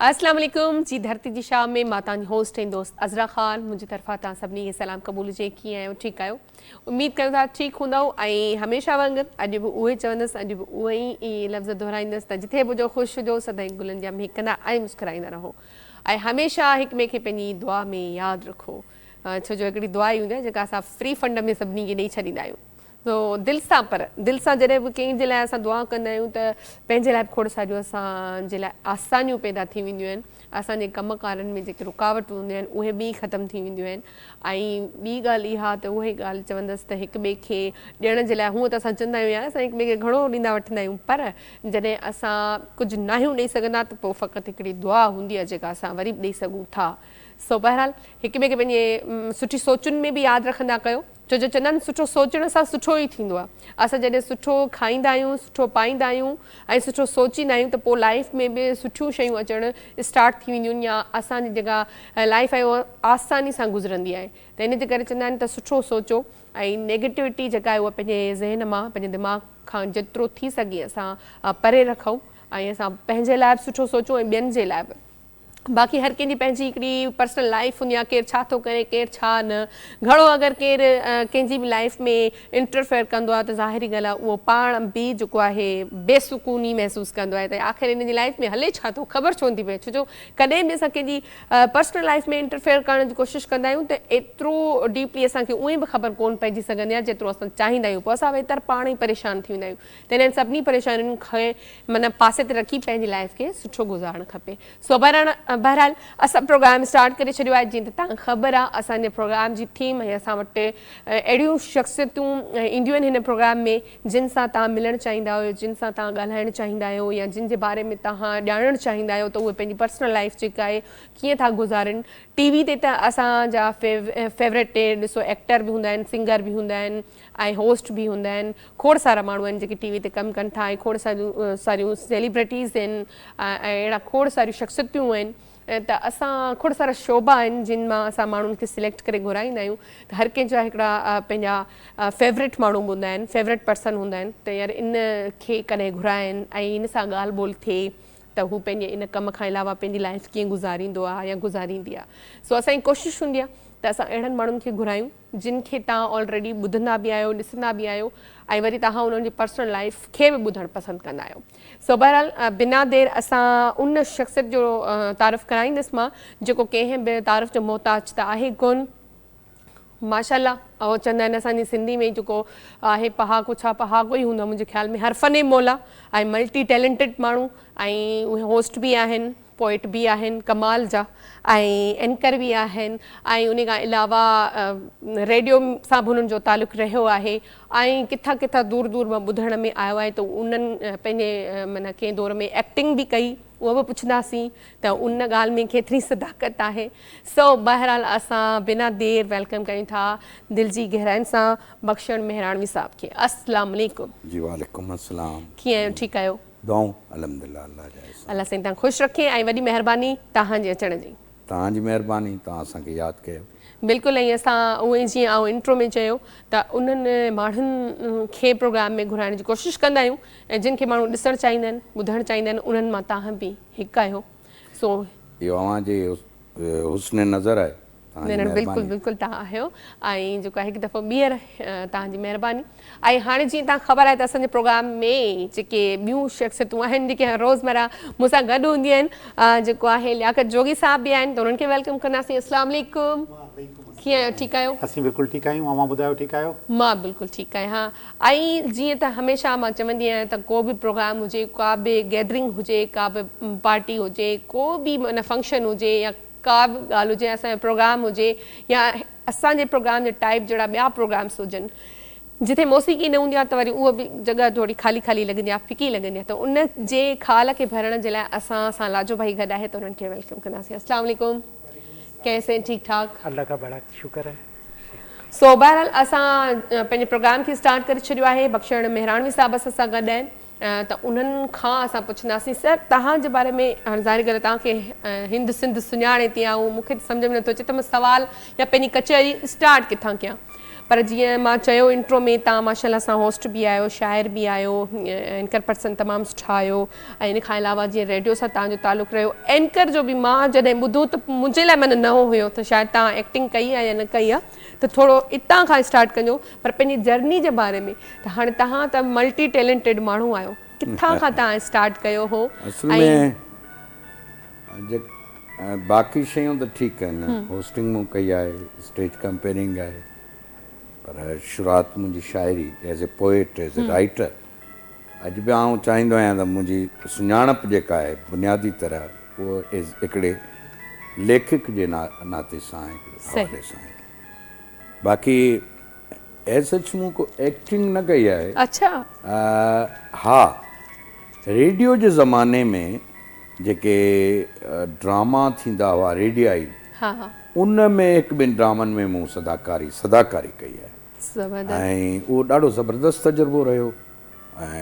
السلام عليڪم جي ڌرتي جي شام ۾ مان تان جي هوسٽ ۽ دوست عزرا خان منهنجي طرفان تان سڀني کي سلام قبول جي ڪيئن آهيو ٺيڪ آهيو اميد ڪريون ٿا ٺيڪ هوندؤ ۽ هميشه وانگر اڄ به اهوئي چوندس اڄ به اهي ئي لفظ دهرائيندس ته جتي به هجو خوش هجو سدائين گلن جيان مهڪندا ۽ مسڪرائيندا رهو ۽ هميشه هڪ ٻئي کي پنهنجي دعا ۾ ياد رکو ڇو جو هڪڙي دعا ئي هوندي آهي جيڪا اسان فري فنڊ ۾ سڀني کي ڏئي ڇڏيندا آهيون سو دل سان پر دل سان جڏهن به ڪنهن جي لاء اسان دعا ڪندا آهيون ته پنهنجي لاء به کوڙ ساريون اسان جي لاء آسانيون پيدا ٿي وينديون آهن اسان جي ڪم ڪارن ۾ جيڪي رڪاوٽون هونديون آهن اهي به ختم ٿي وينديون آهن ۽ ٻي ڳالهه اها ته اهي ڳالهه چوندس ته هڪ ٻئي کي ڏيڻ جي لاء هونء ته اسان چوندا آهيون يار اسان هڪ ٻئي کي گهڻو ڏيندا وٺندا آهيون پر جڏهن اسان ڪجهه ناهيون ڏئي سگهندا ته پوء فقط هڪڙي دعا هوندي آهي جيڪا اسان وري به ڏئي سگهون ٿا سو بهرحال هڪ ٻئي کي پنهنجي سٺي سوچن ۾ به ياد رکندا ڪيو. ڇو جو چندن سٺو سوچڻ سان سٺو ئي ٿيندو آهي. اسان جڏهن سٺو کائيندا آهيون، سٺو پائيندا آهيون ۽ سٺو سوچيندا آهيون ته پوء لائيف ۾ به سٺيون شيون اچڻ اسٽارٽ ٿي وينديون آهن يا اسان جي جيڪا لائيف آهي اها آساني سان گذرندي آهي ته ان جي ڪري چوندا آهن ته سٺو سوچو ۽ نيگيٽوٽي جيڪا آهي اها پنهنجي ذهن مان پنهنجي دماغ کان جيترو ٿي سگهي اسان پري رکون ۽ اسان پنهنجي لاء به سٺو سوچون ۽ ٻين جي لاء به. باقي هر ڪنهن جي پنهنجي هڪڙي پرسنل لائيف هوندي آهي ڪير ڇا ٿو ڪري ڪير ڇا نه گهڻو اگر ڪير ڪنهن جي به لائيف ۾ انٽرفيئر ڪندو آهي ته ظاهري ڳالهه آهي اهو پاڻ به جيڪو آهي بي سڪوني محسوس ڪندو آهي ته آخر هن جي لائيف ۾ هلي ڇا ٿو خبر ڇو نٿي پئي ڇو جو ڪڏهن به اسان ڪنهن جي پرسنل لائيف ۾ انٽرفيئر ڪرڻ جي ڪوشش ڪندا آهيون ته ايترو ڊيپلي اسان کي اونئي به خبر ڪون پئجي سگهندي آهي جيترو اسان چاهيندا آهيون پوء اسان ويتر پاڻ ئي پريشان ٿي ويندا آهيون ته انهن سڀني پريشانين کي معنيٰ پاسي تي رکي پنهنجي لائف کي سٺو گذارڻ کپي سو بهرحال اسان پروگرام اسٽارٽ ڪري ڇڏيو آهي جيئن ته تهان کي خبر آهي اسان جي پروگرام جي ٿيم ۽ اسان وٽ اهڙيون شخصيتون اينديون آهن هن پروگرام ۾ جن سان تهان ملڻ چاهيندا آهيو جن سان تهان ڳالهائڻ چاهيندا آهيو يا جن جي باري ۾ تهان ڄاڻڻ چاهيندا آهيو ته اهي پنهنجي پرسنل لائف جيڪا آهي ڪيئن ٿا گذارن ٽي وي تي ته اسان جا فيوريٽ ڏسو ايڪٽر به هوندا آهن سنگر به هوندا آهن ۽ هوسٽ به هوندا آهن کوڙ سارا ماڻهو آهن جيڪي ٽي وي تي ڪم ڪن ٿا ۽ کوڙ ساريون سيليبرٽيز آهن ۽ اهڙا کوڙ ساريون شخصيتون آهن ته اسان کوڙ سارا شعبا آهن جن مان اسان ماڻهن کي سليڪٽ ڪري گهرائيندا آهيون ته هر ڪنهن جا هڪڙا پنهنجا فيورٽ ماڻهو به هوندا آهن فيورٽ پرسن هوندا آهن ته يار ان کي ڪڏهن گهرائين ۽ ان سان ڳالهه ٻولهه ٿئي ته هو پنهنجي ان ڪم کان علاوه پنهنجي لائف ڪيئن گذاريندو آهي يا گذاريندي آهي سو اسان جي ڪوشش هوندي آهي ته اسان اهڙن ماڻهن کي گهرايون جن کي توهان آلريڊي ٻڌندا به آهيو ڏسندا به آهيو ۽ وري توهان انهن جي پرسنل لائيف کي به ٻڌڻ پسند ڪندا آهيو سو بهرحال بنا دير اسان ان شخصيت جو تعارف ڪرائيندس مان جيڪو ڪنهن به تعارف جو محتاج ته آهي ڪون ماشاء الله اهو چوندا آهن اسان جي سنڌي ۾ جيڪو آهي پهاڪو ڇا پهاڪو ئي هوندو منهنجي خيال ۾ هر فن مولا ۽ ملٽي ٽيلنٽيڊ ماڻهو ۽ اهي هوسٽ به آهن پوئٽ به آهن ڪمال جا ۽ اينڪر به آهن ۽ ان کان علاوه ريڊيو سان به انهن جو تعلق رهيو آهي ۽ ڪٿان ڪٿان دور دور مان ٻڌڻ ۾ آيو آهي ته انهن پنهنجي معنيٰ ڪنهن دور ۾ ايڪٽنگ به ڪئي اهو به پڇنداسين ته ان ڳالهه ۾ ڪيتري صداقت آهي سو بهرحال اسان بنا دير ويلڪم ڪريون ٿا دل جي گهراين سان بخشڻ مهراڻوي صاحب کي السلام عليڪم. جي وعليڪم السلام. ڪيئن آهيو ٺيڪ آهيو. دعائون الحمدلله الله جا احسان. الله سائين تان خوش رکي ۽ وڏي مهرباني تهان جي اچڻ جي. توهان جي مهرباني توهان اسان کي ياد ڪيو. بلڪل ۽ اسان اهو ئي جيئن آئون انٽرو ۾ چيو ته انهن ماڻهن کي پروگرام ۾ گهرائڻ جي ڪوشش ڪندا آهيون ۽ جن کي ماڻهو ڏسڻ چاهيندا آهن ٻڌڻ چاهيندا آهن انهن مان تاهان به هڪ آهيو سو اهو اوهان جي حسن نظر آهي. نه نه بلڪل بلڪل تهان آهيو ۽ جيڪو آهي هڪ دفعو ٻيهر تهان جي مهرباني ۽ هاڻي جيئن تهان خبر آهي ته اسان جي پروگرام ۾ جيڪي ٻيون شخصيتون آهن جيڪي روزمره مون سان گڏ هونديون آهن جيڪو آهي لياقت جوڳي صاحب به آهن ته انهن کي ويلڪم ڪنداسين السلام عليڪم ڪيئن آهيو ٺيڪ آهيو اسين بلڪل ٺيڪ آهيون اوهان ٻڌايو ٺيڪ آهيو مان بلڪل ٺيڪ آهيان ۽ جيئن ته هميشه مان چوندي آهيان ته ڪو به پروگرام هجي ڪا به گيدرنگ هجي ڪا به پارٽي هجي ڪو به معنيٰ فنڪشن هجي يا ڪا به ڳالهه هجي اسان جو پروگرام هجي يا اسان جي پروگرام جي ٽائيپ جهڙا ٻيا پروگرامس هجن جتي موسيقي نه هوندي آهي ته وري اها به جڳهه ٿوري خالي خالي لڳندي آهي ڦڪي لڳندي آهي ته ان جي خال کي ڀرڻ جي لاء اسان سان لاجو ڀائي گڏ آهي ته انهن کي ويلڪم ڪنداسين السلام عليڪم ڪيس آهين ٺيڪ ٺاڪ الله کا بڙا شڪر آهي سو بهرحال اسان پنهنجي پروگرام کي اسٽارٽ ڪري ڇڏيو آهي بخشڻ مهراڻوي صاحب اسان سان گڏ آهن ته انهن کان اسان پڇنداسين. سر، توهان جي باري ۾ هاڻ ظاهري ڳالهه توهان کي هند سنڌ سڃاڻي تي آئون، مون کي ته سمجهه ۾ نٿو اچي ته مان سوال يا پنهنجي ڪچهري اسٽارٽ ڪٿان ڪيان. پر جيئن مان چيو انٽرو ۾ توهان ماشاء الله سان هوسٽ به آهيو، شاعر به آهيو، اينڪر پرسن تمام سٺا آهيو ۽ ان کان علاوه جيئن ريڊيو سان توهان جو تعلق رهيو، اينڪر جو به مان جڏهن ٻڌو ته منهنجي لاء معنيٰ نئون هيو ته شايد توهان ايڪٽنگ ڪئي آهي يا نه ڪئي آهي. ته ٿورو اتان کان اسٽارٽ ڪنجو پر پنهنجي جرني جي باري ۾ ته هاڻي تهان ته ملٽي ٽيلنٽيڊ ماڻهو آهيو ڪٿان کان تهان اسٽارٽ ڪيو هو اصل ۾ باقي شيون ته ٺيڪ آهن هوسٽنگ مون ڪئي آهي اسٽيج ڪمپيرنگ آهي پر شروعات منهنجي شاعري as a poet as a writer اڄ به آئون چاهيندو آهيان ته منهنجي سڃاڻپ جيڪا آهي بنيادي طرح اهو هڪڙي ليکڪ جي ناتي سان هڪڙي حوالي سان آهي باقي ايز سچ مون ڪو ايڪٽنگ نه ڪئي آهي اڇا ها ريڊيو جي زماني ۾ جيڪي ڊراما ٿيندا هئا ريڊيائي ها ها ان ۾ هڪ ٻن ڊرامن ۾ مون صداڪاري صداڪاري ڪئي آهي زبردست ۽ اهو ڏاڍو زبردست تجربو رهيو ۽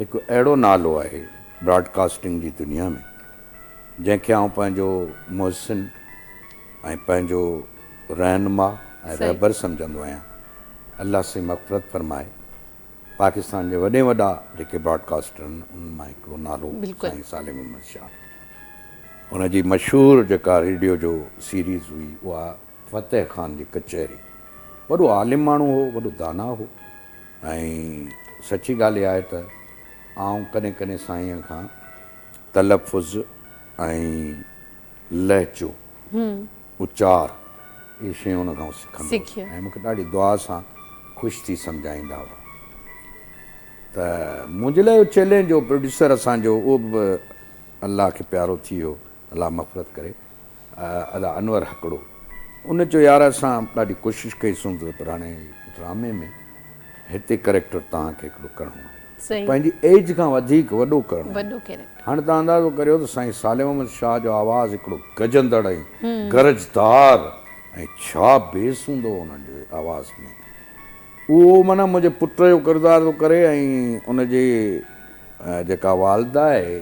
هڪ اهڙو نالو آهي براڊ ڪاسٽنگ جي دنيا ۾ جنهن کي آئون پنهنجو محسن ۽ پنهنجو رهنما ۽ رهبر سمجهندو آهيان الله سائين مغفرت فرمائي پاڪستان جي وڏي وڏا جيڪي براڊ ڪاسٽر آهن انهن مان هڪڙو نالو سائين سالم احمد شاهه ان جي مشهور جيڪا ريڊيو جو سيريز هئي اها فتح خان جي ڪچهري. وڏو عالم ماڻهو هو، وڏو داناء هو ۽ سچي ڳالهه اها آهي ته آئون ڪڏهن ڪڏهن سائينء کان تلفظ ۽ لهجو، اچار، اهي شيون ان کان سکندو هوس ۽ مون کي ڏاڍي دعا سان خوش ٿي سمجهائيندا هئا ته منهنجي لاء اهو چئلينج هو پروڊيوسر اسان جو اهو به الله کي پيارو ٿي ويو. الله مغفرت ڪري ادا انور ھڪڙو ان چيو يار اسان ڏاڍي ڪوشش ڪئي سونز پر ھاڻي ڊرامي ۾ ھتي ڪريڪٽر توھان کي ھڪڙو ڪرڻو آھي ته پنھنجي ايج کان وڌيڪ وڏو ڪرڻو آھي ھاڻي توھان اندازو ڪريو ته سائين صالح محمد شاھ جو آواز ھڪڙو گجندڙ ۽ گرجدار ۽ ڇا بيس ھوندو انھن جي آواز ۾ اهو معنيٰ منهنجي پٽ جو ڪردار ٿو ڪري ۽ ان جي جيڪا والده آهي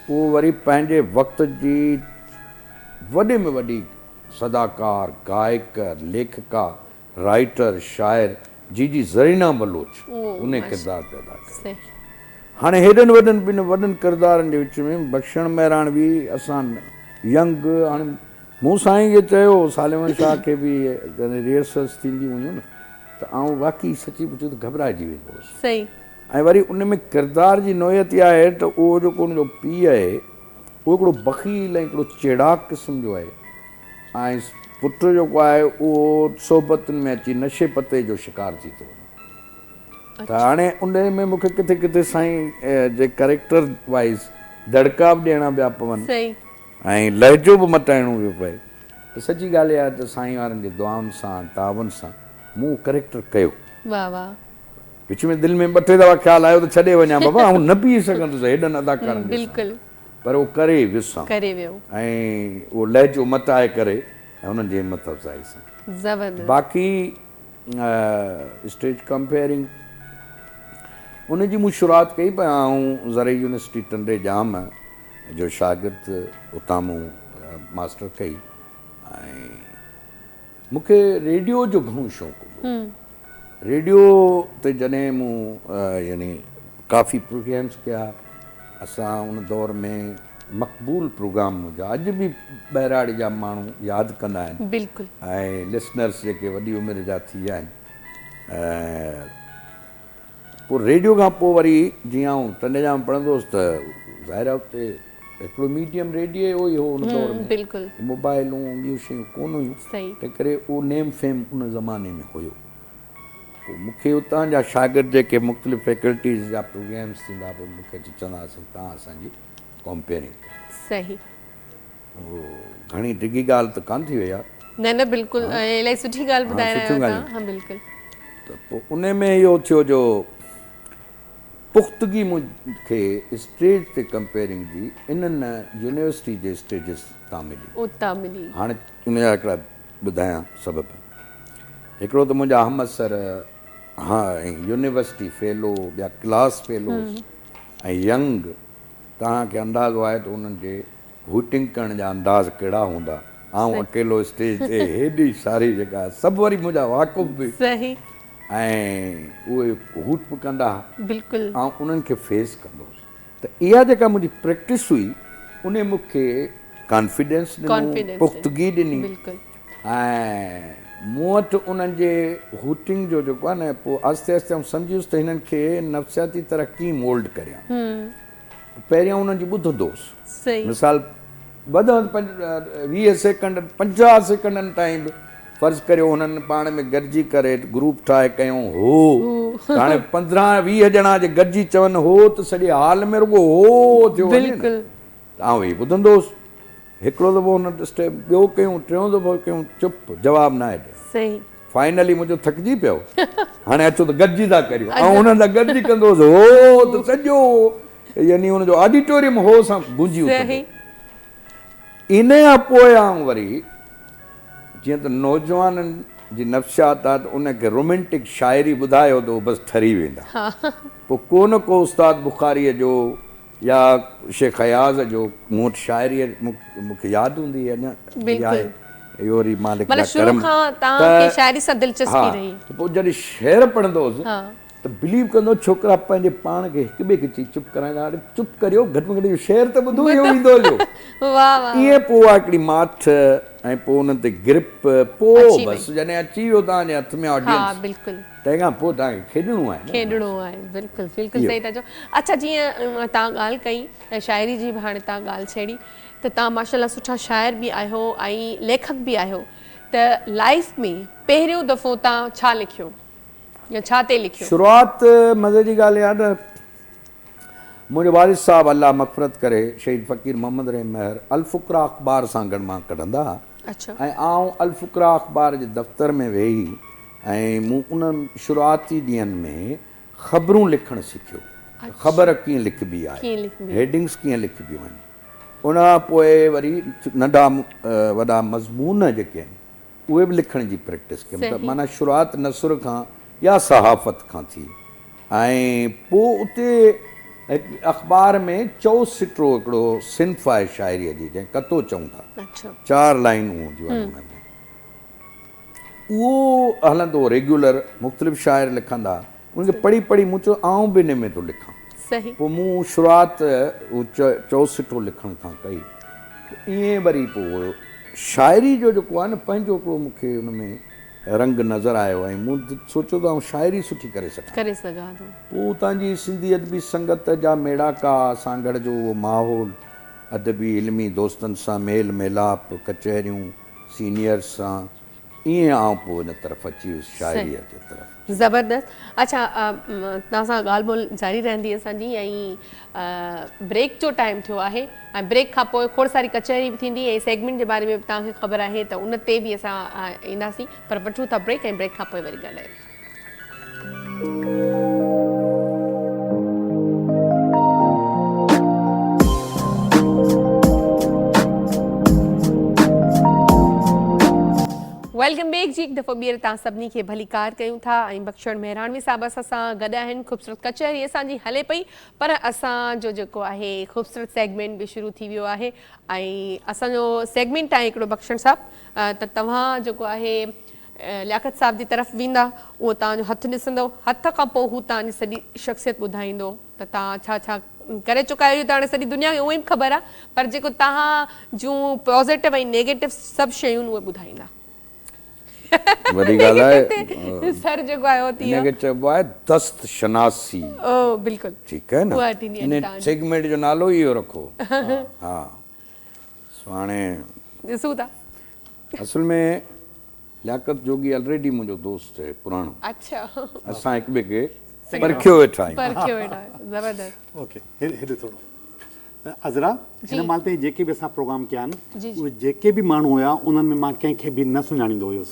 اهو وري پنهنجي وقت جي وڏي ۾ وڏي صداڪار، گائڪ، ليکڪا، رائيٽر، شاعر جي جي زرينا بلوچ ان جي ڪردار تي ادا ڪيو. هاڻي هيڏن وڏن ٻن وڏن ڪردارن جي وچ ۾ بخشڻ مهراڻوي اسان ينگ هاڻي مون سائين کي چيو، ساليوان شاهه کي به جڏهن ريهرسلز ٿينديون هيون نه ته آئون واقعي سچي پچي ته گهٻرائجي ويندو هوس. صحيح. ۽ وري ان ۾ ڪردار جي نوعيت اها آهي ته اهو جيڪو ان جو پيء آهي اهو هڪڙو بخيل ۽ هڪڙو چيڙاڪ قسم جو آهي ۽ پٽ جيڪو آهي اهو صحبتن ۾ اچي نشي پتي جو شڪار ٿي ٿو وڃي ته هاڻي ان ۾ مون کي ڪٿي ڪٿي سائين جي ڪريڪٽر وائيز دڙڪا به ڏيڻا پيا پون. صحيح. ۽ لهجو به مٽائڻو پيو پئي ته سچي ڳالهه اها آهي ته سائين وارن جي دعائن سان تعاون سان مون اهو ڪريڪٽر ڪيو. واھ واھ. وچ ۾ دل ۾ ٻه ٽي دفعا خيال آيو ته ڇڏي وڃان بابا آئون نه بيهي سگهندس هيڏن اداڪارن جي سامهون پر اهو ڪري ويسان ۽ اهو لهجو مٽائي ڪري ۽ انهن جي همت افزائي سان باقي اسٽيج ڪمپيئرنگ ان جي مون شروعات ڪئي پر آئون زرعي يونيورسٽي ٽنڊي ڄام جو شاگرد اتان مون ماسٽر ڪئي ۽ مون کي ريڊيو جو گهڻو شوق هوندو هو ريڊيو تي جڏهن مون يعني ڪافي پروگرامس ڪيا اسان ان دور ۾ مقبول پروگرام منهنجا اڄ به ٻهراڙي جا ماڻهو ياد ڪندا آهن بلڪل ۽ لسنرس جيڪي وڏي عمر جا ٿي ويا آهن پوء ريڊيو کان پوء وري جيئن آئون ٽنڊي جا ۾ پڙهندو هوس ته ظاهر آهي اتي هڪڙو ميڊيم ريڊيو ئي هو ان دور ۾ موبائلون ۽ ٻيون شيون ڪونه هيون تنهن ڪري اهو نيم فيم ان زماني ۾ هيو. پوء مون کي اتان جا شاگرد جيڪي مختلف فيڪلٽيز جا پروگريمز ٿيندا پوء مون کي اچي چوندا هئا سائين توهان اسان جي ڪمپيئرنگ ڪريو. اوهو گهڻي ڊگهي ڳالهه ته ڪانه ٿي وئي آ. نه نه بلڪل الائي سٺي ڳالهه ٻڌائي رهيا آهيو توهان ها بلڪل. ته پوء انهي ۾ اهو ٿيو جو پختگي مون کي اسٽيج تي ڪمپيئرنگ جي انهن يونيورسٽي جي اسٽيجز تان ملي. اتان ملي. هاڻي ان جا هڪڙا ٻڌايان سبب. هڪڙو ته منهنجا همعصر ها ۽ يونيورسٽي فيلو ٻيا ڪلاس فيلوز ۽ ينگ توهان کي اندازو آهي ته انهن جي هوٽنگ ڪرڻ جا انداز ڪهڙا هوندا. آئون اڪيلو اسٽيج تي هيڏي ساري جيڪا سڀ وري منهنجا واقف به ۽ اهي هوٽ به ڪندا ها آئون انهن کي فيس ڪندو هوس ته اها جيڪا منهنجي پريڪٽس هئي انهي مون کي ڪانفيڊنس ڏنو پختگي ڏني ۽ مون وٽ انهن جي هوٽنگ جو جيڪو آهي نه پوء آهستي آهستي آئون سمجهي ويس ته هنن کي نفسياتي طرح ڪيئن مولڊ ڪريان پهريان انهن جي ٻڌندوس. صحيح. مثال بدان پنج ويهه سيڪنڊ پنجاهه سيڪنڊن تائين به فرض ڪريو هنن پاڻ ۾ گڏجي ڪري گروپ ٺاهي ڪيون هو هو. ته هاڻي پندرهن يا ويهه ڄڻا جي گڏجي چون هو ته سڄي هال ۾ رڳو هو هو ٿيو وڃي نه. بلڪل. ته آئون هي ٻڌندوس. هڪڙو دفعو هن ٽسٽي ٻيو ڪيون ٽيون دفعو ڪيون چپ جواب ناهي ڏيڻ صحيح. فائنلي منهنجو ٿڪجي پيو هاڻي اچو ته گڏجي ٿا ڪريون آئون هنن سان گڏجي ڪندو هوس هو ته سڄو يعني هن جو آڊيٽوريم هو سان گونجي اٿندو صحيح. انهي کان پوء آئون وري جيئن ته نوجوانن جي نفسيات آهي ته انهن کي رومينٽڪ شاعري ٻڌايو ته هو بس ٺري ويندا ها. پوء ڪو نه ڪو استاد بخاريء جو يا شيخ اياز جو مون وٽ شاعري مون کي ياد هوندي اڃا به آهي اهو وري مالڪ جا ڪرم پوء جڏهن شعر پڙهندو هوس ته بليو ڪندو ڇوڪرا پنهنجي پاڻ کي هڪ ٻئي کي چئي چپ ڪرائيندا هئا چپ ڪريو گهٽ ۾ گهٽ اهو شعر ته ٻڌو اهو ايندو هليو ائين پوء اها هڪڙي ماٺ ۽ پوء انهن تي گرپ پوء بس جڏهن اچي ويو تان جي هٿ ۾ آڊينس تنهن کان پوء توهان کي کيڏڻو آهي نه. کيڏڻو آهي بلڪل بلڪل صحيح ٿا چئو. اڇا جيئن توهان ڳالهه ڪئي شاعري جي به هاڻي توهان ڳالهه ڇيڙي ته توهان ماشاءالله سٺا شاعر به آهيو ۽ ليکڪ به آهيو ته لائيف ۾ پهريون دفعو توهان ڇا لکيو يا ڇا تي لکيو؟ شروعات مزي جي ڳالهه اها ته منهنجو والد صاحب الله مغفرت ڪري شهيد فقير محمد رحيم مهر الفقراء اخبار سانگهڙ مان ڪڍندا ها ۽ آئون الفقراء اخبار جي دفتر ۾ ويهي ۽ مون انهن شروعاتي ڏينهن ۾ خبرون لکڻ سکيو ته خبر ڪيئن لکبي آهي، هيڊنگس ڪيئن لکبيون آهن. ان کان پوء وري ننڍا وڏا مضمون جيڪي آهن اهي به لکڻ جي پريڪٽس ڪيم ته معنيٰ شروعات نثر کان يا صحافت کان ٿي ۽ پوء اتي هڪ اخبار ۾ چؤ سٽرو هڪڙو صنف آهي شاعريء جي جنهن کي ڪتو چئون ٿا چار لائينون هونديون آهن ان ۾. اهو هلندو ريگيولر مختلف شاعر لکندا ان کي پڙهي پڙهي مون چيو آئون به انهي ۾ ٿو لکان پوء مون شروعات چوسٽو لکڻ کان ڪئي ائين وري پوء شاعري جو جيڪو آهي نه پنهنجو هڪڙو مون کي ان ۾ رنگ نظر آيو ۽ مون سوچيو ته آئون شاعري سٺي ڪري سگهان ٿو پوء اتان جي سنڌي ادبي سنگت جا ميڙاڪا سانگهڙ جو اهو ماحول ادبي علمي دوستن سان ميل ميلاپ ڪچهريون سينيئرس سان ائين آئون پوء ان طرف اچي ويس شاعريء جي طرف. زبردست اڇا توهان سان ڳالهه ٻولهه جاري رهندي اسان جي ۽ بريڪ جو ٽائيم ٿيو آهي ۽ بريڪ کان پوء کوڙ ساري ڪچهري به ٿيندي ۽ سيگمينٽ جي باري ۾ به توهان کي خبر آهي ته ان تي به اسان اينداسين پر وٺون ٿا بريڪ ۽ بريڪ کان پوء وري ڳالهايون. ويلڪم بيڪ جي هڪ دفعو ٻيهر تان سڀني کي ڀليڪار ڪيون ٿا ۽ بخشڻ مهراڻوي صاحب اسان سان گڏ آهن خوبصورت ڪچهري اسان جي هلي پئي پر اسان جو جيڪو آهي خوبصورت سيگمنٽ به شروع ٿي ويو آهي ۽ اسان جو سيگمنٽ آهي هڪڙو بخشڻ صاحب ته توهان جيڪو آهي لياقت صاحب جي طرف ويندا، اهو توهان جو هٿ ڏسندو، هٿ کان پوء هو توهان جي سڄي شخصيت ٻڌائيندو ته توهان ڇا ڇا ڪري چڪا آهيو اهو ته هاڻي سڄي دنيا کي اونئين به خبر آهي پر جيڪو توهان جون پازيٽو ۽ نيگيٽو سڀ شيون اهي ٻڌائيندا. وڏي ڳالهه آهي. سر جيڪو آهي اهو تي ان کي چئبو آهي دست شناسي. او بلڪل. ٺيڪ آهي نه. ان سيگمينٽ جو نالو ئي اهو رکو. ها. سهاڻي ڏسون ٿا. اصل ۾ لياقت جوڳي الريڊي منهنجو دوست آهي پراڻو. اڇا. اسان هڪ ٻئي کي پرکيو ويٺا آهيون. پرکيو ويٺا آهيون. زبردست. اوڪي هيڏي ٿورو. عذرا هن مهل تائين جيڪي به اسان پروگرام ڪيا آهن اهي جيڪي به ماڻهو هيا انهن ۾ مان ڪنهن کي به نه سڃاڻيندو هيس.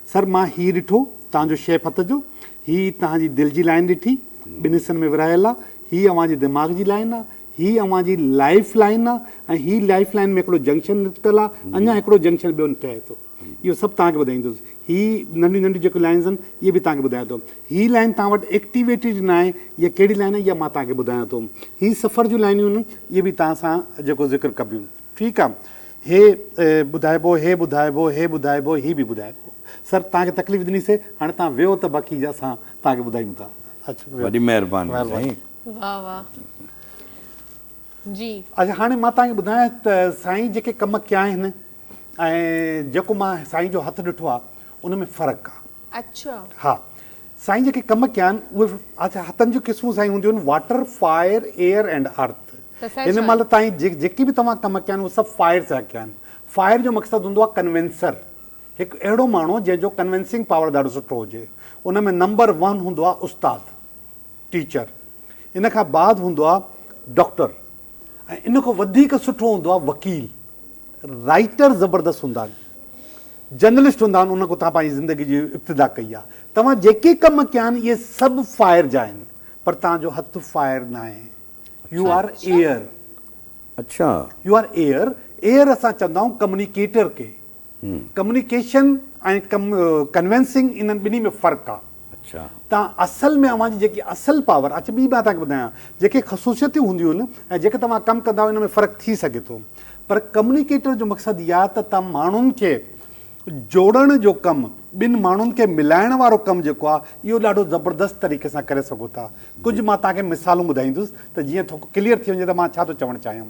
سر مان هي ڏٺو توهان جو شيپ هٿ جو، هي توهان جي دل جي لائين ڏٺي، ٻن حصن ۾ ورهايل آ، هي اوهان جي دماغ جي لائين آ، هي اوهان جي لائيف لائين آ ۽ هي لائيف لائين ۾ هڪڙو جنڪشن نڪتل آ، اڃان هڪڙو جنڪشن ٻيو نٽائي ٿو. اهو سڀ توهان کي ٻڌائيندس. هي ننڍيون ننڍيون جيڪو لائينز آهن اهي به توهان کي ٻڌايان ٿو. هي لائين توهان وٽ ايڪٽيويٽيڊ نه آهي يا ڪهڙي لائين آهي اها مان توهان کي ٻڌايان ٿو. هي سفر جون لائينيون آهن اهي به توهان سان جيڪو ذڪر ڪبيون. ٺيڪ آ هي ٻڌائبو هي ٻڌائبو هي ٻڌائبو هي به ٻڌائبو سر توهان کي تڪليف ڏني سي هاڻي توهان ويهو ته باقي اسان توهان کي ٻڌايون ٿا اچ وڏي مهرباني سائين واه واه جي اچ هاڻي مان توهان کي ٻڌايان ته سائين جيڪي ڪم ڪيا آهن ۽ جيڪو مان سائين جو هٿ ڏٺو آ ان ۾ فرق آ. اچا. ها سائين جيڪي ڪم ڪيا آهن اهي هٿن جون قسمون سائين هونديون آهن water fire air and earth هن مهل تائين جيڪي به توهان ڪم ڪيا آهن اهي سڀ فائر سان ڪيا آهن فائر جو مقصد هوندو آهي ڪنوينسر هڪ اهڙو ماڻهو جنهن جو ڪنوينسنگ پاور ڏاڍو سٺو هجي ان ۾ نمبر ون هوندو آهي استاد ٽيچر، ان کان بعد هوندو آهي ڊاڪٽر ۽ ان کان وڌيڪ سٺو هوندو آهي وڪيل، رائيٽر زبردست هوندا آهن، جرنلسٽ هوندا آهن ان کان توهان پنهنجي زندگي جي ابتدا ڪئي آهي، توهان جيڪي ڪم ڪيا آهن اهي سڀ فائر جا آهن پر توهان جو هٿ فائر ناهي يو آر ايئر اڇا يو آر ايئر ايئر اسان چوندا آهيون ڪمنيڪيٽر کي ڪميونيڪيشن ۽ ڪنوينسنگ انهن ٻنهي ۾ فرق آ. تان اصل ۾ اوهان جي جيڪي اصل پاور اچ ٻي مان توهانکي ٻڌايان جيڪي خصوصيتون هونديون ۽ جيڪي توهان ڪم ڪندا ان ۾ فرق ٿي سگهي ٿو پر ڪميونيڪيٽر جو مقصد اها ته توهان ماڻهن کي جوڙڻ جو ڪم ٻن ماڻهن کي ملائڻ وارو ڪم جيڪو آ اهو ڏاڍو زبردست طريقي سان ڪري سگهو ٿا ڪجهه مان توهانکي مثالون ٻڌائيندس ته جيئن ٿو ڪليئر ٿي وڃي ته مان ڇا ٿو چوڻ چاهيان.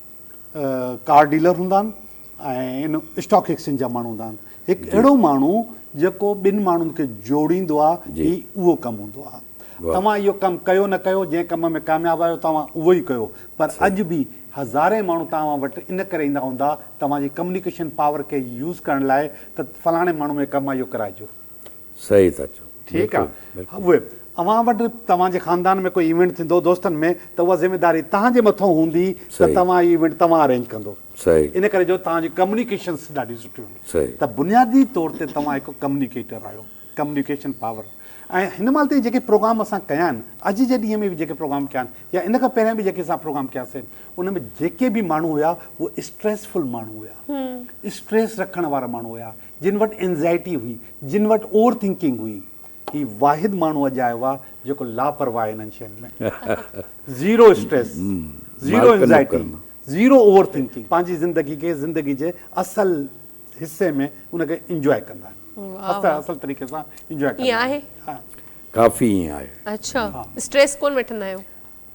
ڪار ڊيلر هوندا آهن ۽ اسٽاڪ ايڪسچينج جا ماڻهو هوندا آهن هڪ اهڙو ماڻهو جيڪو ٻن ماڻهن کي جوڙيندو آهي هي اهو ڪم هوندو آهي توهان اهو ڪم ڪيو نه ڪيو جنهن ڪم ۾ ڪامياب آهيو توهان اهو ئي ڪيو پر اڄ به هزارين ماڻهو توهان وٽ ان ڪري ايندا هوندا توهان جي ڪميونيڪيشن پاور کي يوز ڪرڻ لاء ته فلاڻي ماڻهو کان اهو ڪم ڪرائجو. صحيح ٿا چئو. ٺيڪ آ اهي اوهان وٽ توهان جي خاندان ۾ ڪو ايونٽ ٿيندو دوستن ۾ ته اها ذميداري توهان جي مٿو هوندي ته توهان اهي ايونٽ توهان ارينج ڪندو ان ڪري جو توهان جي ڪمنيڪيشنس ڏاڍي سٺي هوندي ته بنيادي طور تي توهان هڪ ڪمنيڪيٽر آهيو ڪمنيڪيشن پاور ۽ هن مهل تائين جيڪي پروگرام اسان ڪيا آهن اڄ جي ڏينهن ۾ به جيڪي پروگرام ڪيا آهن يا ان کان پهريان به جيڪي اسان پروگرام ڪيا سين ان ۾ جيڪي به ماڻهو هيا اهي اسٽريسفل ماڻهو هيا اسٽريس رکڻ وارا ماڻهو هيا جن وٽ اينزائٽي هئي، جن وٽ اوور ٿنڪنگ هئي، هي واحد ماڻهو اڄ آيو آهي جيڪو لاپرواهه آهي انهن شين ۾. Zero stress, zero anxiety, zero overthinking, پنهنجي زندگي کي زندگي جي اصل حصي ۾ ان کي انجواء ڪندا آهن. اصل طريقي سان انجواء ڪندا آهن. ائين آهي؟ ها. ڪافي ائين آهي. اچا اسٽريس ڪونه وٺندا آهيو؟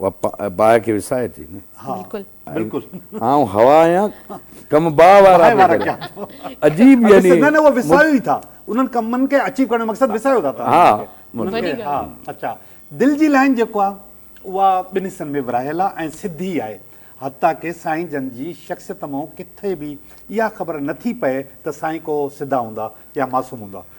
اها باهه کي وسائي ٿي نه. بلڪل. بلڪل. آئون هوا آهيان ڪم باهه وارا پيا ڪريان. عجيب يعني. نه نه اهو وسايو ئي ٿا. انهن ڪمن کي اچيو ڪرڻ جو مقصد وسايو ٿا تهان. ها. وڏي ڳالهه. ها. اچا. دل جي لائين جيڪو آهي اها ٻن حصن ۾ ورهايل آهي ۽ سڌي آهي. حتيٰ ڪي سائين جن جي شخصيت مون ڪٿي به اها خبر نه ٿي پئي ته سائين ڪو سڌا هوندا يا معصوم هوندا.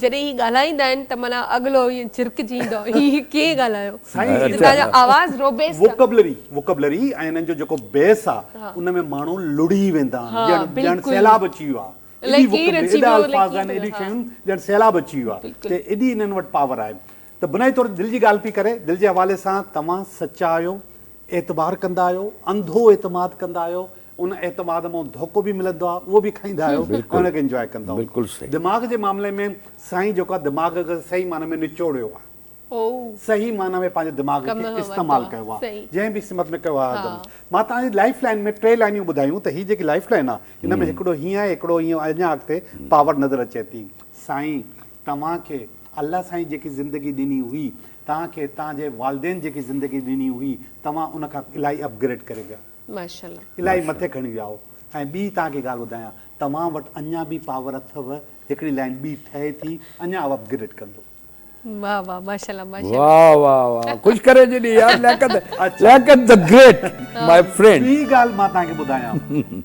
جڏهن هي ڳالهائيندا آهن ته معنيٰ اڳلو ائين ڇرڪجي ايندو آهي هي ڪيئن ڳالهايو هتان جو آواز روبيسٽ آهي. ووڪبلري، Vocabulary، ۽ انهن جو جيڪو بيس آهي ان ۾ ماڻهو لڙهي ويندا آهن ڄڻ ڄڻ سيلاب اچي ويو آهي. ايڏي ووڪبلري ايڏا الفاظ آهن ايڏيون شيون ڄڻ سيلاب اچي ويو آهي ته ايڏي انهن وٽ پاور آهي. ته بنيادي طور تي دل جي ڳالهه پئي ڪري، دل جي حوالي سان توهان سچا آهيو، اعتبار ڪندا آهيو، انڌو اعتماد ڪندا آهيو، ان اعتماد مان ڌوڪو به ملندو آهي، اهو به کائيندا آهيو ۽ ان کي انجواء ڪندا آهيو. دماغ جي معاملي ۾ سائين جيڪو آهي دماغ کي صحيح معنيٰ ۾ نچوڙيو آهي، صحيح معنيٰ ۾ پنهنجي دماغ کي استعمال ڪيو آهي، جنهن به سمت ۾ ڪيو آهي آدم. مان توهان جي لائيف لائين ۾ ٽي لائينيون ٻڌايون ته هي جيڪي لائيف لائين آهي ان ۾ هڪڙو هيئن آهي، هڪڙو هيئن آهي، اڃا اڳتي پاور نظر اچي ٿي. سائين توهان کي الله سائين جيڪي زندگي ڏني هئي توهان کي توهان جي والدين جيڪي زندگي ڏني هئي توهان ان کان الاهي اپ گريڊ ڪري ويا ماشاءالله. الاهي مٿي کڻي ويا آهو ۽ ٻي توهان کي ڳالهه ٻڌايان توهان وٽ اڃان به پاور اٿو هڪڙي لائين ٻي ٺهي ٿي اڃان اهو اپ گريڊ ڪندو. واھ واھ ماشاءالله ماشاءالله. واھ واھ واھ ڪجھ ڪري جي ڏي يار لياقت لياقت ذا گريٽ ماء فرينڊ. ٻي ڳالهه مان توهان کي ٻڌايان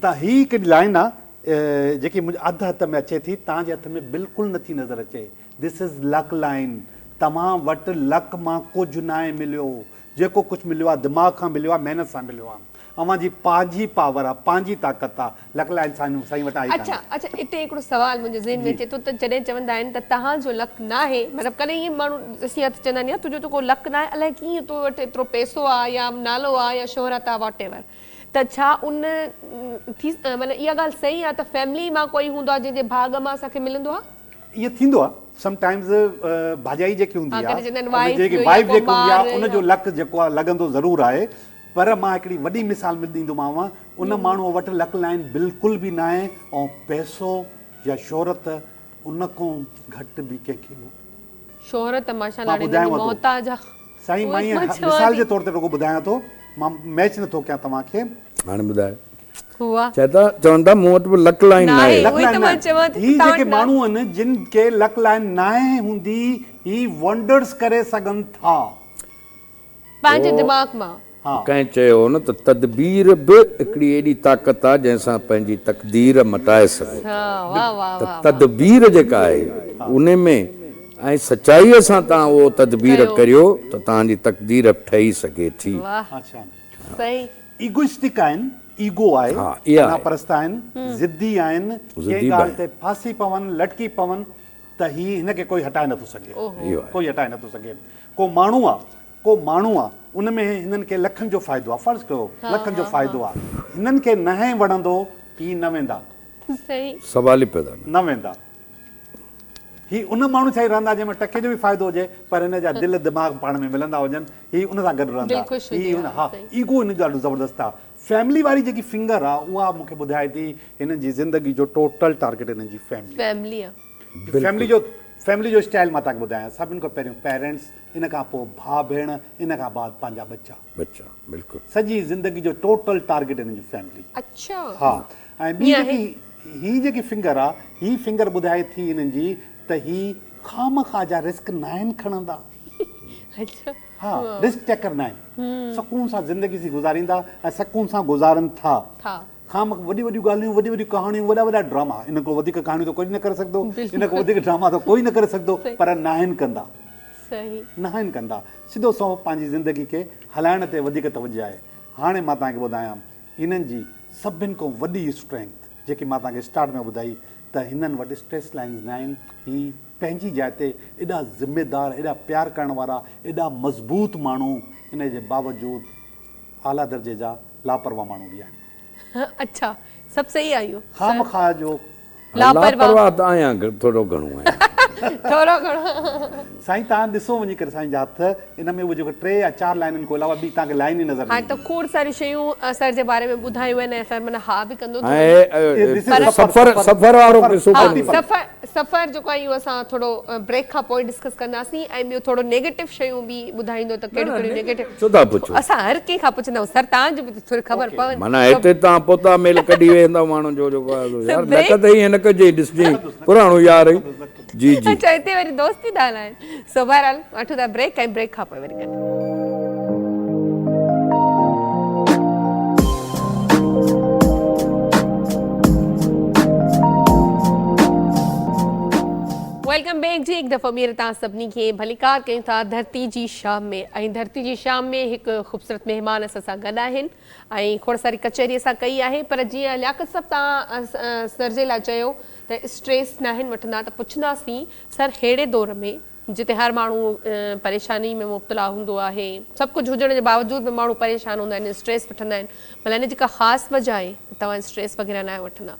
ته هي هڪڙي لائين آ. جيڪي منهنجي اڌ هٿ ۾ اچي ٿي تان جي هٿ ۾ بلڪل نه ٿي نظر اچي This is luck line توهان وٽ لڪ مان ڪجهه ناهي مليو جيڪو ڪجهه مليو آهي دماغ کان مليو آهي محنت سان مليو آهي اوهان جي پاجي پاور آهي پنهنجي طاقت آهي لڪ لائين سائين سائين وٽ آهي ڪانهي. اڇا اڇا اتي هڪڙو سوال منهنجي ذهن ۾ اچي ٿو ته جڏهن چوندا آهن ته تهان جو لڪ ناهي مطلب ڪڏهن ائين ماڻهو ڏسي يا ته چوندا آهن يار تنهنجو ته ڪو لڪ ناهي الائي ڪيئن تو وٽ ايترو پئسو آهي يا نالو آهي يا شهرت آهي Whatever ته ڇا ان ٿي معنيٰ اها ڳالهه صحيح آهي ته فيملي مان ڪوئي هوندو آهي جنهن جي ڀاڳ مان اسان کي ملندو آهي. ائين ٿيندو آهي سم ٽائمز ڀاڄائي جيڪي هوندي آهي ان جيڪي وائيف جيڪي هوندي آهي ان جو لڪ جيڪو آهي لڳندو ضرور آهي پر مان هڪڙي وڏي مثال ۾ ڏيندومانو ان ماڻهو وٽ لڪ لائين بلڪل به نه آهي ۽ پئسو يا شهرت ان کان گهٽ به ڪنهن کي مان ٻڌايانو ٿو. سائين مان ائين مثال جي طور تي رڳو ٻڌايان ٿو مان ميچ نه ٿو ڪيان توهان کي. هاڻي ٻڌايو. هئا. چئي ٿا چون ٿا مون وٽ به لڪ لائين ناهي. لڪ لائين ناهي. هي جيڪي ماڻهو آهن جن کي لڪ لائين ناهي هوندي هي ونڊرس ڪري سگهن ٿا. پنهنجي دماغ مان. ها. ڪنهن چيو هو نه ته تدبير به هڪڙي ايڏي طاقت آ جنهن سان پنهنجي تقدير مٽائي سگهو ها واهه واهه ته واهه واهه. تدبير جيڪا آهي ان ۾ ۽ سچائيء سان توهان اهو تدبير ڪيو. ڪريو ته توهان جي تقدير ٺهي سگهي ٿي. واهه اڇا صحيح. ايگوئسٽڪ آهن، ايگو آهي، ها اها انا آهي. پرست آهن، ضدي آهن، ڪنهن ضدي به ڳالهه آهن. تي ڦاسي پون، لٽڪي پون ته هي هن کي ڪوئي هٽائي نٿو سگهي. اوهو. اهو آهي. ڪوئي هٽائي نٿو سگهي. ڪو ماڻهو آ ڪو ماڻهو آ ان ۾ هنن کي لکن جو فائدو آ فرض ڪيو لکن جو فائدو آ هنن کي نهين وڻندو هي نه ويندا صحيح سوال ئي پيدا نه نه ويندا هي ان ماڻهو سان ئي رهندا جنهن ۾ ٽڪي جو به فائدو هجي پر هن جا دل دماغ پاڻ ۾ ملندا هجن هي ان سان گڏ رهندا دلڪش هي هجي ان ها ها صحيح ايگو هن جو ڏاڍو زبردست آ فيملي واري جيڪي فنگر آ اها مونکي ٻڌائي ٿي هنن جي زندگي جو ٽوٽل ٽارگيٽ هنن جي فيملي آ فيملي آ فيملي جو فيملي جو اسٽائل مان تهانکي ٻڌايان سڀني کان پهريون پيرنٽس ان کان پوء ڀاء ڀيڻ ان کان بعد پنهنجا ٻچا ٻچا بلڪل سڄي زندگي جو ٽوٽل ٽارگيٽ هن جي فيملي اڇا ها ۽ ٻي جيڪي هي جيڪي فنگر آ هي فنگر ٻڌائي ٿي هنن جي ته هي خامخواه جا رسڪ ناهن کڻندا اڇا ها رسڪ ٽيڪر ناهن سڪون سان زندگي سي گذاريندا ۽ سڪون سان گذارن ٿا ٿا خام وڏيون وڏيون ڳالهيون، وڏيون وڏيون ڪهاڻيون، وڏا وڏا ڊراما، انهن کان وڌيڪ ڪهاڻيون ته ڪوئي نه ڪري سگهندو، انهن کان وڌيڪ ڊراما ته ڪوئي نه ڪري سگهندو، پر ناهن ڪندا. ناهن ڪندا. سڌو سنئون پنهنجي زندگي کي هلائڻ تي وڌيڪ توجهه آهي. هاڻي مان توهان کي ٻڌايان هنن جي سڀن کان وڏي اسٽرينگٿ، جيڪي مان توهان کي اسٽارٽ ۾ ٻڌائي ته هنن وٽ اسٽريس لائنز نه آهن، هي پنهنجي جاء تي ايڏا ذميدار، ايڏا پيار ڪرڻ وارا، ايڏا مضبوط ماڻهو، ان جي باوجود اعليٰ درجي جا لاپرواهه ماڻهو به آهن. اڇا سڀ صحيح آهيو سر. خامخواه جو. لاپرواهه ته آهيان ٿورو گهڻو آهيان. ٿورو گهڻو. سائين توهان ڏسو وڃي ڪري سائين جا هٿ ان ۾ اهي جيڪو ٽي يا چار لائنن کان علاوه ٻي توهان کي لائن ئي نظر نه ايندي. هاڻي ته کوڙ ساريون شيون سر جي باري ۾ ٻڌايون آهن ۽ سر معنيٰ ها به ڪندو ٿو وڃي. سفر وارو قصو ڪونهي. سفر جيڪو آهي اهو اسان ٿورو بريڪ کان پوء ڊسڪس ڪنداسين ۽ ٻيو ٿورو نيگيٽو شيون به ٻڌائيندو ته ڪهڙيون ڪهڙيون نيگيٽو اسان هر ڪنهن کان پڇندا آهيون سر تان جي به ٿوري خبر پوي معنيٰ هتي تان پوتا ميل ڪڍي ويهندا ماڻهن جو جيڪو آهي سو يار نڪ ته ائين نه ڪجين ڏسجين پراڻو يار جي جي اچا هتي وري دوست ٿي ڏانائين سو بهرحال وٺون ٿا بريڪ ۽ بريڪ کان پوء وري گڏ ويلڪم بيڪ جي هڪ دفعو ٻيهر تان سڀني کي ڀليڪار ڪيون ٿا ڌرتي جي شام ۾ ۽ ڌرتي جي شام ۾ هڪ خوبصورت مهمان اسان سان گڏ آهن ۽ کوڙ ساري ڪچهري اسان ڪئي آهي پر جيئن لياقت صاحب تان سرجي لاء چيو ته اسٽريس ناهن وٺندا ته پڇنداسين سر ههڙي دور ۾ جتي هر ماڻهو پريشاني ۾ مبتلا هوندو آهي. سڀ ڪجهه هجڻ جي باوجود به ماڻهو پريشان هوندا آهن اسٽريس وٺندا آهن ڀلا ان جي ڪا خاص وجه آهي ته توهان اسٽريس وغيره ناهيو وٺندا.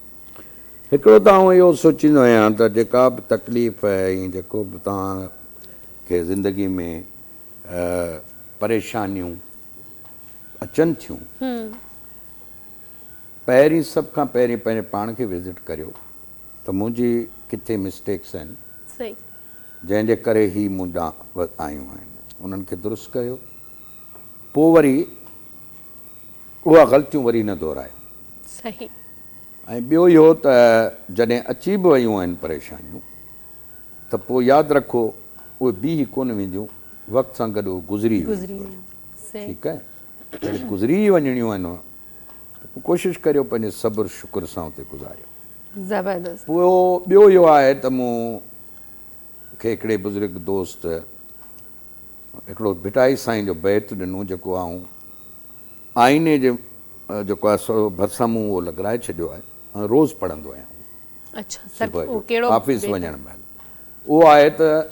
هڪڙو ته آئون اهو سوچيندو آهيان ته جيڪا به تڪليف ۽ جيڪو به توهان کي زندگي ۾ پريشانيون اچن ٿيون پهرين سڀ کان پهرين پنهنجي پاڻ کي وزٽ ڪريو. ته منهنجي ڪٿي مسٽيڪس آهن جنهن جي ڪري هي مون ڏانهن آيون آهن انهن کي درست ڪيو پوء وري اها غلطيون وري نه دهرايو ۽ ٻيو اهو ته جڏهن اچي به ويون آهن پريشانيون ته پوء ياد رکو اهي بيهي ڪونه وينديون وقت سان گڏ اهي گذري ئي وينديون ٺيڪ آهي جڏهن گذري ئي وڃڻيون آهن ته پوء ڪوشش ڪريو پنهنجي صبر شڪر سان اتي گذاريو. زبردست. پوء ٻيو اهو آهي ته مون کي هڪڙي بزرگ دوست هڪڙو ڀٽائي سائين جو بيت ڏنو جيڪو آئون آئيني جي جيڪو آهي سو ڀرسان مون اهو لڳرائي ڇڏيو آهي ۽ روز پڙهندو آهيان اهو صبح جو آفيس وڃڻ مهل اهو آهي ته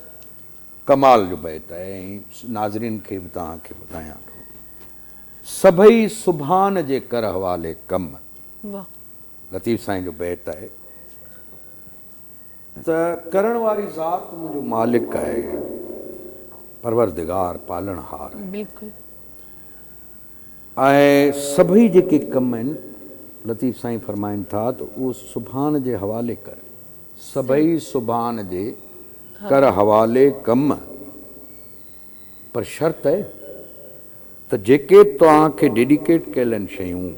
ڪمال جو بيت آهي ۽ ناظرين کي به توهان کي ٻڌايان ٿو سڀئي سبحان جي ڪر حوالي ڪم لطيف سائين جو بيت آهي ته ڪرڻ واري ذات منهنجو مالڪ آهي پروردگار پالڻهار آهي بلڪل ۽ سڀئي جيڪي ڪم آهن لطيف سائين فرمائن ٿا ته اهو سبحان جي حوالي ڪر سڀئي سبحان جي ڪر حوالي ڪم پر شرط اهي ته جيڪي توهان کي ڊيڊيڪيٽ ڪيل آهن شيون،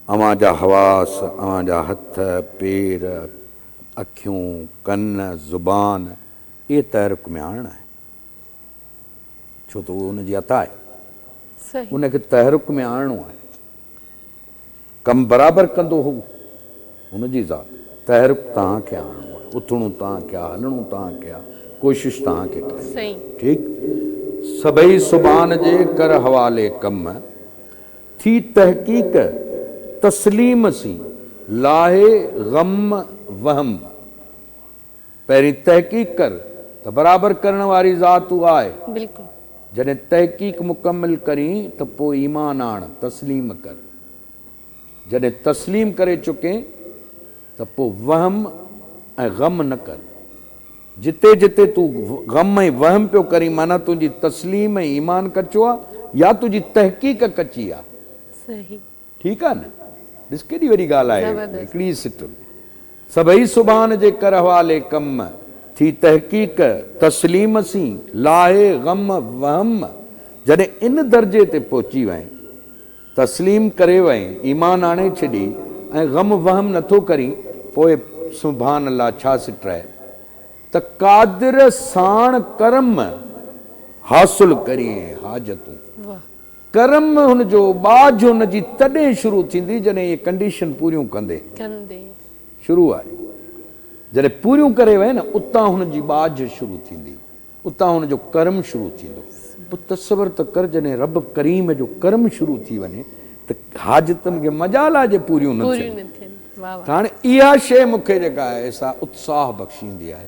اوهان جا حواس، اوهان جا هٿ، پير، اکيون، ڪن، زبان، اهي تحرڪ ۾ آڻڻا آهن. ڇو ته اهو ان جي عطا آهي. ان کي تحرڪ ۾ آڻڻو آهي. ڪم برابر ڪندو هو. هن جي ذات. تحرڪ توهان کي آڻڻو آهي. اٿڻو توهان کي آهي، هلڻو توهان کي آهي، ڪوشش توهان کي ڪرڻي آهي. سائين. ٺيڪ. سڀئي سبحان جي ڪر حوالي ڪم ٿي تحقيق تسليم سين لاهي غم وهم. پهرين تحقيق ڪر ته برابر ڪرڻ واري ذات هو آهي. بلڪل. جڏهن تحقيق مڪمل ڪرين ته پوء ايمان آڻ، تسليم ڪر. جڏهن تسليم ڪري چڪين ته پوء وهم ۽ غم نه ڪر. جتي جتي تون غم ۽ وهم پيو ڪرين معنيٰ تنهنجي تسليم ۽ ايمان ڪچو آهي يا تنهنجي تحقيق ڪچي آهي. صحيح. ٺيڪ آ نه ڏس ڪيڏي وڏي ڳالهه آهي زبردست. هڪڙي سٽ سڀئي سبحان جي ڪر حوالي ڪم ٿي تحقيق تسليم سين لاهي غم وهم جڏهن ان درجي تي پهچي وئين تسليم ڪري وئين ايمان آڻي ڇڏي ۽ غم وهم نٿو ڪرين پوء سبحان الله ڇا سٽ آهي ته قادر ساڻ ڪرم حاصل ڪرين حاجتون. واھ. ڪرم هن جو، ٻاجهه هن جي تڏهن شروع ٿيندي جڏهن اهي ڪنڊيشن پوريون ڪندي. ڪندي. شروع آهي. جڏهن پوريون ڪري وئي نه اتان هن جي ٻاجهه شروع ٿيندي. اتان هن جو ڪرم شروع ٿيندو. پوء تصور ته ڪر جڏهن رب ڪريم جو ڪرم شروع ٿي وڃي ته حاجتن کي مجال آهي جي پوريون نه ٿين. ته هاڻي اها شيء مون کي جيڪا آهي سا اتساهه بخشيندي آهي.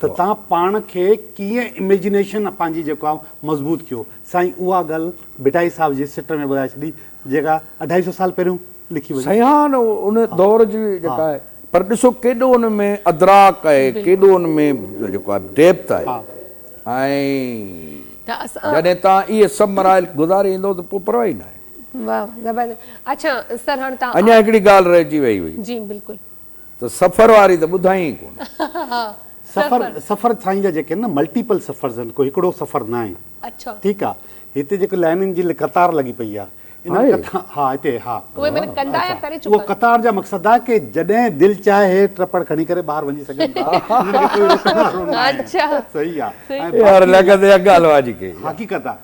ته توهان پاڻ کي ڪيئن اميجنيشن پنهنجي جيڪو آهي مضبوط ڪيو. سائين اها ڳالهه ڀٽائي صاحب جي سٽ ۾ ٻڌائي ڇڏي جيڪا اڍائي سو سال پهريون لکي وئي. سائين ها ان ان دور جي جيڪا آهي پر ڏسو ڪيڏو ان ۾ ادراڪ آهي ڪيڏو ان ۾ جيڪو آهي ڊيپٿ آهي ۽ جڏهن توهان اهي سڀ مراحل گذاري ايندو ته پوء پرواهه ئي ناهي. واهه زبردست اچا سر هاڻ تان اڃا هڪڙي ڳالهه رهجي وئي هئي. جي بلڪل. ته سفر واري ته ٻڌائين ئي ڪونه. سفر سفر سائين جا جيڪي آهن نه ملٽيپل سفرز آهن ڪو هڪڙو سفر نه آهن ٺيڪ آ هتي جيڪو لائنين جي قطار لڳي پئي آ انهن ڪٿا ها هتي ها اهو قطار جا مقصد آ ڪي جڏهن دل چاهي ٽرپڙ کڻي ڪري ٻاهر وڃي سگهن ٿا انهن کي ڪوئي روڪڻ وارو نه آهي صحيح آ ۽ باقي يار لڳندي اڳ الوا جي ڪئي حقيقت آ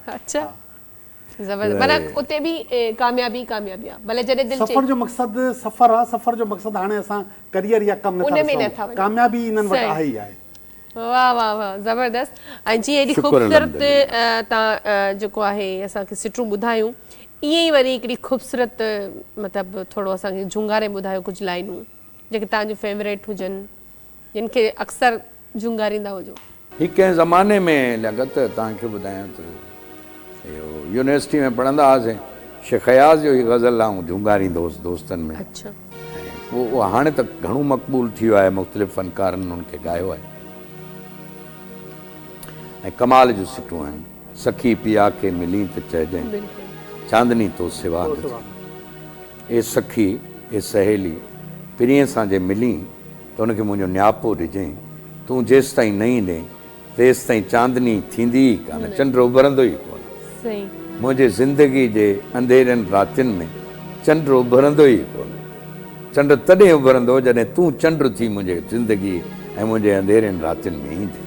زبردست معنيٰ اتي به ڪاميابي ئي ڪاميابي آ ڀلي جڏهن دل چئي. سفر جو مقصد سفر آ سفر جو مقصد هاڻي اسان ڪريئر يا ڪم نٿا ڏسون ڪاميابي انهن وٽ آهي ئي آهي. واھ واھ واھ زبردست ۽ جيئن ايڏي خوبصورت تان جيڪو آهي اسان کي سٽون ٻڌايون ايئن ئي وري هڪڙي خوبصورت مطلب ٿورو اسان کي جهونگاري ٻڌايو ڪجهه لائنون جيڪي تان جون فيوريٽ هجن جن کي اڪثر جهونگاريندا هجو. هي ڪنهن زماني ۾ لڳت توهان کي ٻڌايان ته اهو يونيورسٽي ۾ پڙهندا هئاسين شيخ اياز جو هي غزل آئون جهونگاريندو هوس دوستن ۾ ۽ اهو هاڻي ته گهڻو مقبول ٿي ويو آهي مختلف فنڪارن ان کي ڳايو آهي ۽ ڪمال جون سٽون آهن سخي پيا کي ملين ته چئجين چاندني تو سوا نه ٿي اي سخي اي سهيلي پرينء سان جي ملين ته ان کي منهنجو نياپو ڏجئين. تون جيستائين نه ايندين، تيستائين چاندني ٿيندي ئي ڪانه، چنڊ اڀرندو ئي ڪونه. منهنجي زندگيء جي انڌيرين راتين ۾ چنڊ اڀرندو ئي ڪونه. چنڊ تڏهن اڀرندو، جڏهن تون چنڊ ٿي منهنجي زندگيء ۽ منهنجي انڌيرين راتين ۾ ايندين.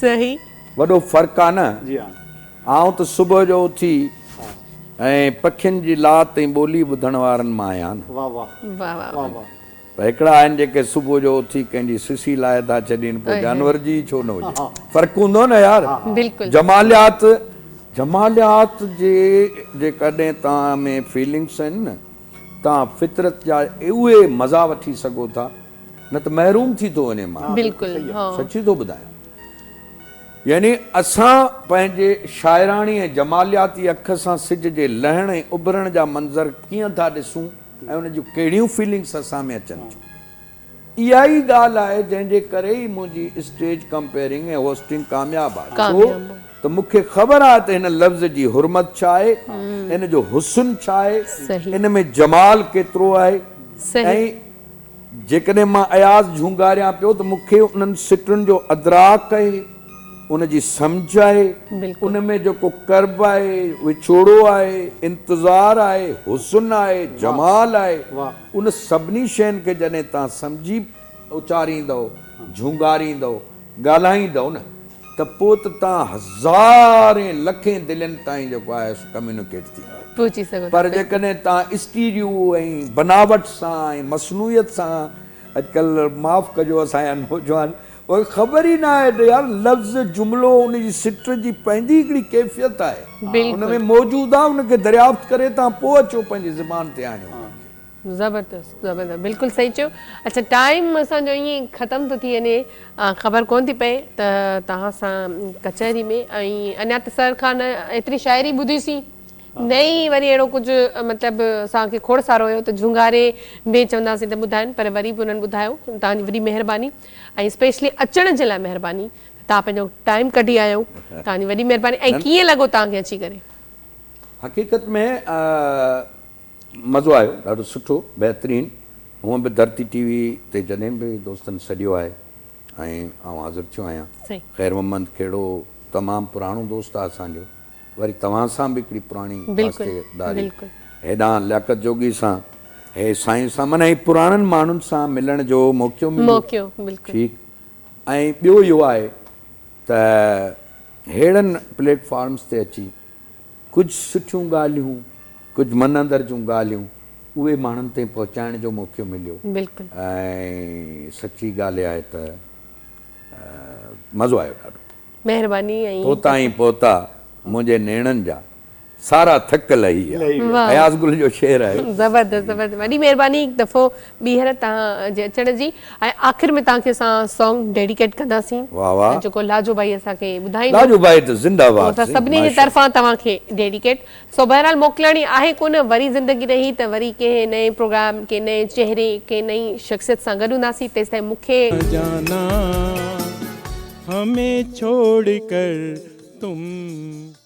صحيح. وڏو فرق آ نه. جي ها. آئون ته صبح جو اٿي ۽ پکين جي لات ۽ ٻولي ٻڌڻ وارن مان آهيان نه. واھ واھ. واھ واھ. واھ واھ. پر هڪڙا آهن جيڪي صبح جو اٿي ڪنهن جي سسي لاهي ٿا ڇڏين پوء جانور جي ئي ڇو نه هجي. فرق هوندو نه يار. بلڪل. جماليات جماليات جي جيڪڏهن توهان ۾ فيلنگس آهن نه توهان فطرت جا اهي مزا وٺي سگهو ٿا. نه ته محروم ٿي ٿو وڃي ماڻهو. بلڪل ها. سچي ٿو ٻڌايان. يعني اسان پنهنجي شاعراڻي ۽ جمالياتي اک سان سج جي لهڻ ۽ اڀرڻ جا منظر ڪيئن ٿا ڏسون ۽ ان جون ڪهڙيون فيلنگس اسان ۾ اچن ٿيون. اها ئي ڳالهه آهي جنهن جي ڪري ئي منهنجي اسٽيج ڪمپيئرنگ ۽ هوسٽنگ ڪامياب آهي. ڇو ته مون کي خبر آهي ته هن لفظ جي حرمت ڇا آهي، ان جو حسن ڇا آهي، ان ۾ جمال ڪيترو آهي ۽ جيڪڏهن مان اياز جهونگاريان پيو ته مون کي انهن سٽن جو ادراڪ آهي، ان جي سمجهه آهي، ان ۾ جيڪو ڪرب آهي، وڇوڙو آهي، انتظار آهي، حسن آهي، جمال آهي، ان سڀني شين کي جڏهن توهان سمجهي اچاريندؤ، جهونگاريندؤ، ڳالهائيندؤ نه. ته پوء ته توهان هزارين لکين دلين تائين جيڪو آهي سو ڪميونيڪيٽ ٿيندا. پهچي سگهو ٿا. پر جيڪڏهن توهان اسٽيريو ۽ بناوٽ سان ۽ مصنوعيت سان اڄڪلهه معاف ڪجو اسان جا نوجوان کي خبر ئي نه آهي ته يار لفظ جملو ان جي سٽر جي پنهنجي هڪڙي ڪيفيت آهي ان ۾ موجود آهي ان کي دريافت ڪري توهان پوء اچو پنهنجي زبان تي آڻيو ان کي. زبردست زبردست بلڪل صحيح چيو اڇا ٽائيم اسان جو ائين ختم ٿو ٿي وڃي خبر ڪون ٿي پئي ته توهان سان ڪچهري ۾ ۽ اڃا ته سر کان ايتري شاعري ٻڌي سين نه ئي وري اهڙو ڪجهه مطلب اسان کي کوڙ سارو هيو ته جهونگاري ۾ چوندا سين ته ٻڌائن پر وري به انهن ٻڌايو توهان جي وڏي مهرباني ۽ اسپيشلي اچڻ جي لاء مهرباني توهان پنهنجو ٽائيم ڪڍي آيا آهيو توهان جي وڏي مهرباني ۽ ڪيئن لڳو توهان کي اچي ڪري حقيقت ۾ مزو آيو ڏاڍو سٺو بهترين هونء به ڌرتي ٽي وي تي جڏهن به دوستن سڏيو آهي ۽ آئون حاضر ٿيو آهيان خير محمد کهڙو تمام پراڻو دوست آهي اسان جو وري توهان سان به هڪڙي پراڻي واسطي داري هيڏانهن لياقت جوڳي سان هي سائين سان معنيٰ هي پراڻن ماڻهن سان ملڻ جو موقعو مليو ٺيڪ ۽ ٻيو اهو آهي ته هيڙن پليٽ فارمس تي اچي ڪجهه سٺيون ڳالهيون، ڪجهه من اندر جون ڳالهيون اهي ماڻهن تائين پهچائڻ جو موقعو مليو بلڪل. ۽ سچي ڳالهه آهي ته مزو آيو ڏاڍو. مهرباني ۽ تو تائين پهتا منهنجي نيڻن جا سارا ٿڪ لهي ويا. واء. اياز گل جو شعر آهي. زبردست زبردست وڏي مهرباني هڪ دفعو ٻيهر توهان جي اچڻ جي ۽ آخر ۾ توهان کي اسان سانگ ڊيڊيڪيٽ ڪنداسين جيڪو لاجو ڀائي اسان کي ٻڌائيندو لاجو ڀائي ته زنده باد اسان سڀني جي طرفان توهان کي ڊيڊيڪيٽ سو بهرحال موڪلاڻي آهي ڪونه وري زندگي رهي ته وري ڪنهن نئين پروگرام ڪنهن نئين چهري ڪنهن نئين شخصيت سان گڏ هونداسين تيستائين مون کي جانا همي ڇوڙ ڪر تم.